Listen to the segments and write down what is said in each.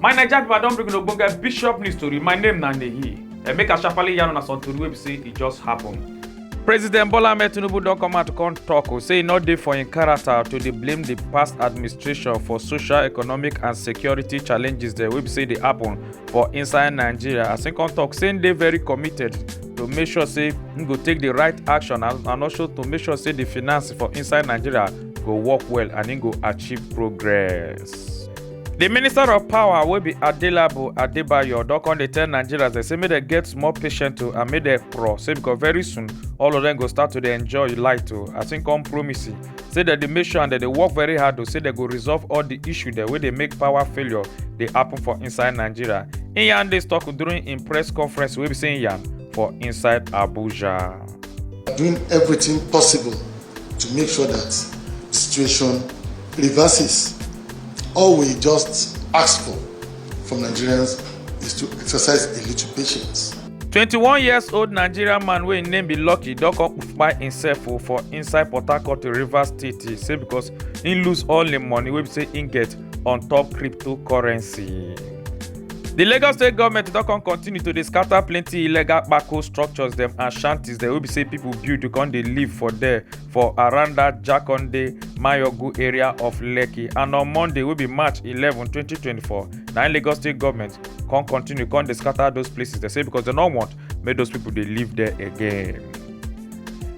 my naija pipo i don bring una ogbonge bishop news tori my name na nehi and make i sharparly yarn una some tori wey be say e just happen. president bola ahmed tinubu don come out come tok o say e no dey for im character to dey blame di past administration for social economic and security challenges dem wey be say dey happen for inside nigeria as im come tok say im dey very committed to make sure say im go take di right action and and also to make sure say di finance for inside nigeria go work well and im go achieve progress. di minister of power wey be adelabu adebayo don come dey tell nigerians dem say make dem get small patience to and make dem pro say because very soon all of dem go start to dey enjoy light o as im come promise say dem dey make sure and dem dey work very hard to say dem go resolve all di issue dem wey dey make power failure dey happen for inside nigeria im yarn dis tok during im press conference wey be say im yarn for inside abuja. doing everything possible to make sure that the situation reverses. All we just ask for from Nigerians is to exercise a little patience. 21 years old nigerian man wey im name be lucky don come kpai himself o for inside port harcourt rivers state e say because he lose all im money wey be say he get on top cryptocurrency. di lagos state government don come continue to dey scatter plenty illegal kpako structures dem and shanties dem wey be say pipo build come dey live for there for around dat Jakonde Mayogu area of Lekki and on Monday wey be March 11, 2024 na im Lagos state government come continue come dey scatter those places dey say because dem no want make those people dey live there again.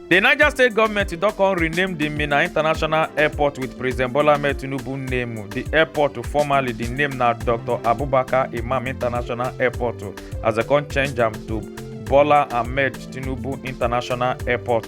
The Niger state government don come rename the Minna International Airport with President Bola Ahmed Tinubu name. The airport formerly the name na Dr. Abubakar Imam International Airport as dem come change am to Bola Ahmed Tinubu International Airport.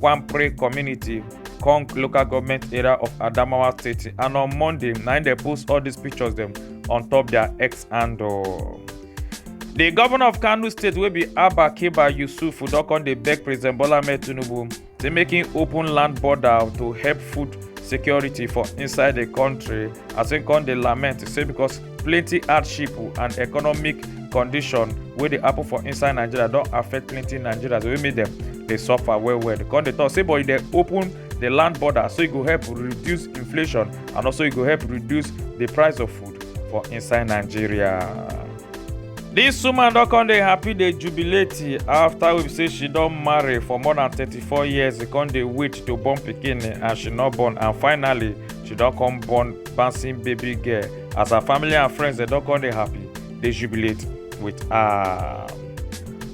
Kwampre community, Kong local government area of Adamawa State, and on Monday, na they post all these pictures them on top their ex handle. The governor of Kano State will be Abba Kiba Yusuf don come dey beg President Bola Ahmed Tinubu to make him open land border to help food security for inside the country as he come dey lament say because plenty hardship and economic condition wey dey happen for inside nigeria don affect plenty nigerians wey make dem dey suffer well well dem come dey talk say but e dey open the land border so e go help reduce inflation and also e go help reduce the price of food for inside nigeria. This woman don come dey happy dey jubilate after we say she don marry for more than thirty-four years she come dey wait to born pikin and she no born and finally she don come born bouncing baby girl as her family and friends dem don come dey happy dey jubilate with her.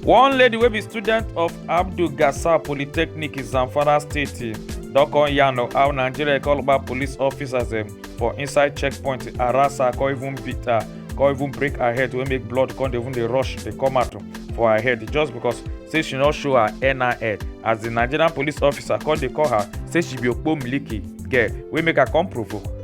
one lady wey be student of abdul gasar polytechnic in zamfara state don come yarn of how nigeria call back police officers dem for inside checkpoint harass her come even beat her come even break her head wey make blood come dey even dey rush dey come out for her head just because say she no show her nin as di nigerian police officer come dey call her say she be okpomiliki girl wey make her come provoke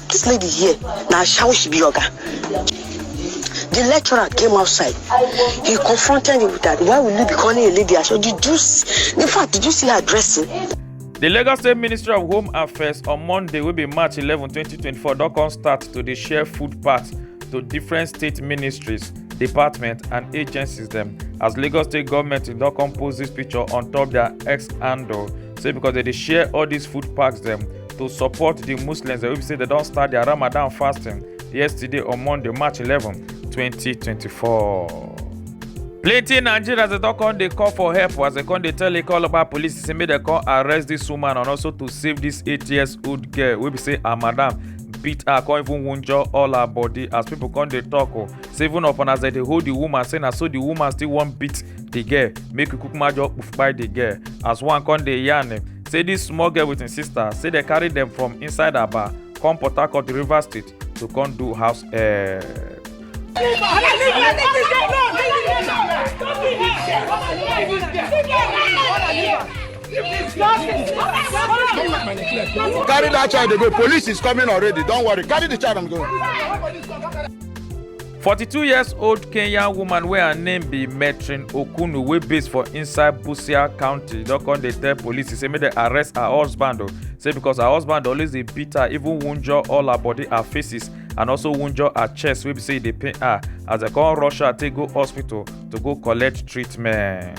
This lady here, na shower she be oga. The lecturer came outside. He confronted me with that. Why will you be calling a lady? I said, did you see? In fact, did you see her dressing? The Lagos State Ministry of Home Affairs on Monday will be March 11, 2024 don come start to dey share food parts to different state ministries, departments and agencies dem as Lagos State government don come post this picture on top their X handle say because they dey share all these food packs dem to support the muslims wey be say dem don start their ramadan fasting yesterday on monday march 11 2024 plenty nigerians dey don come dey call for help as dem come dey tell ikoloba police say make dem come arrest dis woman and also to save dis eight years old girl wey be say her madam beat her come even wunjure all her body as pipo come dey tok o say even upon as dem dey hold di woman say na so di woman still wan beat the girl make we kukuma just poof kpai the girl as one come dey yarn him say this small girl with him sister say they carry them from inside aba come port harcourt river state to come do house uh, Carry that child, they go. Police is coming already. Don't worry. Carry the child, I'm going. 42 years old kenyan woman wey her name be metrin okunu wey base for inside busia county don come dey tell police say make dem arrest her husband o say because her husband always dey beat her even wunjure all her body her faces and also wunjure her chest wey be say e dey pain her as dem come rush her take go hospital to go collect treatment.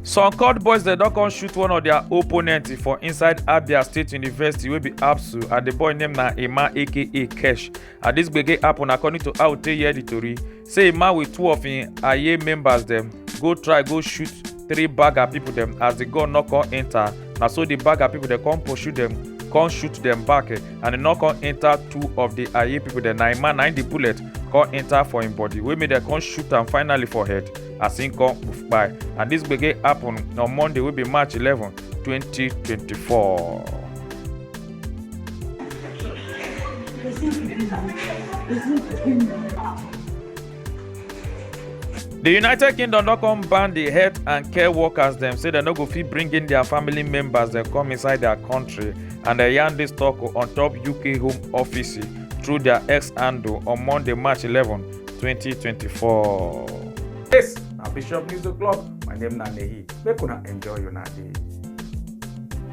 some court boys dem don come shoot one of their opponent for inside abia state university wey be absu and the boy name na emma aka kesh and dis gbege happen according to how tey hear di tori say a man with two of im aye members dem go try go shoot three bagger pipo dem as di gun no come enta na so di bagger pipo dem come pursue dem come shoot dem back eh, and e no come enta two of di aye pipo dem na im man na im di bullet come enta for im body wey make dem come shoot am finally for head as im come kpai and dis gbege happen on monday wey be march eleven twenty twenty four. di united kingdom don come ban di health and care workers dem say dem no go fit bring in dia family members dem come inside dia kontri and dem yarn dis tok on top uk home office through dia x handle on monday march 11 2024. dis na bishop news o'clock my name na nehi make una enjoy una day.